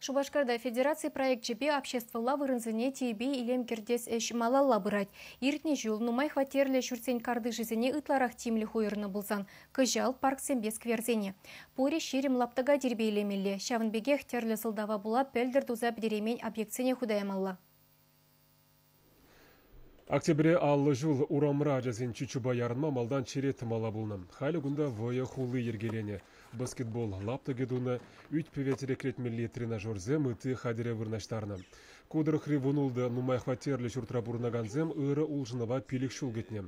Шупашкарта федераци проекчӗпе обществӑлла вырӑнсене тирпей илем кӗртес ӗҫ малалла пырать. Иртнӗ ҫул нумай хваттерлӗ ҫуртсен картишӗсене ытларах тимлӗх уйӑрнӑ пулсан, кӑҫал парксемпе скверсене. Пурӗ ҫирӗм лаптӑка тирпейлемелле, ҫавӑн пекех тӗрлӗ сӑлтава пула пӗлтӗр туса пӗтереймен объектсене хута ямалла. Октябре аллӑ ҫул урамра ачасен чучупа ярӑнма малтан черет тӑмалла пулнӑ. Халӗ кунта вӑйӑ хулли йӗркеленӗ, баскетбол, лаптӑкӗ тунӑ, ӳт-пӗве тӗрекленмелли тренажерсем ытти хатӗре вырнаҫтарнӑ. Ку тӑрӑхри вунултӑ нумай хваттерлӗ ҫуртра пурӑнакансем ырӑ улшӑнӑва пилӗк ҫул кӗтнӗ.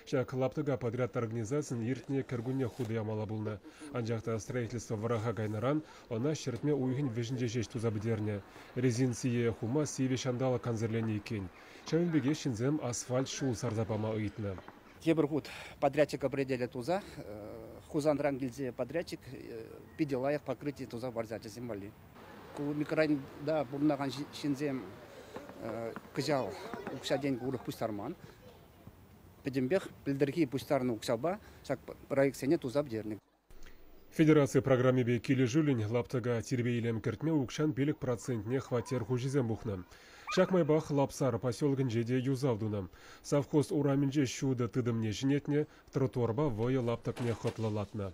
Ҫак лаптӑка подряд организацийӗн иртнӗ кӗркунне хутӑ ямалла пулнӑ. Анчах та строительство вӑраха кайнӑран ӑна ҫӗртме уйӑхӗн вӗҫӗнче ҫеҫ туса пӗтернӗ. Резин сийӗ хума сивӗ ҫанталӑк кансӗрленнӗ иккен. Ҫавӑн пекех ҫынсем асфальт ҫул сарса пама ыйтнӑ. Тепӗр хут подрядчика бределе туса Хусанран килсе подрядчик питӗ лайӑх покрытие туса хӑварса ачасем валли. Ку микрорайонта пурӑнакан ҫынсем кӑҫал укҫа-тенкӗ урӑх пуҫтарман. пӗтӗмпех пӗлтӗрхи пуҫтарнӑ укҫапа ҫак проектсене туса пӗтернӗ. Федераци программипе килӗшӳллӗн лаптӑка тирпей-илем кӗртме укҫан пилӗк процентне хваттер хуҫисем пухнӑ. Ҫак майпах Лапсар поселокӗнче те юсав тунӑ. Совхоз урамӗнче ҫутӑ тытӑмне ҫӗнетнӗ, тротуарпа вӑйӑ лаптӑкне хӑтлӑлатнӑ.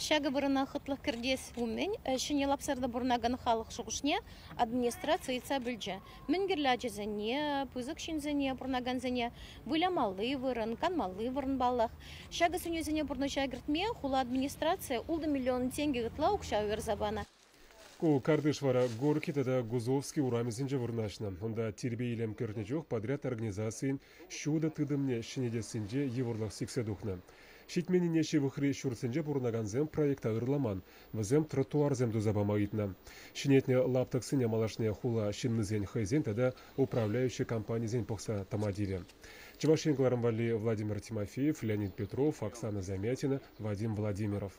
Ҫакӑ вырӑна хӑтлӑх кӗртес умӗн ҫӗнӗ лапсарта пурӑнакан халӑх шухӑшне администраци ыйтса пӗлчӗ. Мӗн кирлӗ ачасене, пысӑк ҫынсене, пурӑнакансене вылямалли вырӑн, канмалли вырӑн паллах. Ҫакӑ сӗнӳсене пурнӑҫа кӗртме хула администрацийӗ ултӑ миллион тенкӗ ытла укҫа уйӑрса панӑ. Ку картиш вара Горки тата Гузовский урамӗсенче вырнаҫнӑ. Унта тирпей-илем кӗртнӗ чух подряд организацийӗн ҫутӑ тытӑмне ҫӗнетессинче йывӑрлӑх сиксе тухнӑ. Ҫитменнине ҫывӑхри ҫуртсенче пурӑнакансем проекта ырламан, вӗсем тротуарсем туса пама ыйтнӑ. Ҫӗнетнӗ лаптӑксене малашне хула ҫыннисен хӑйсен тата управляющи компанисен пӑхса тӑма тивӗ. Чӑваш Ен кӑларӑм валли Владимир Тимофеев, Леонид Петров, Оксана Замятина, Вадим Владимиров.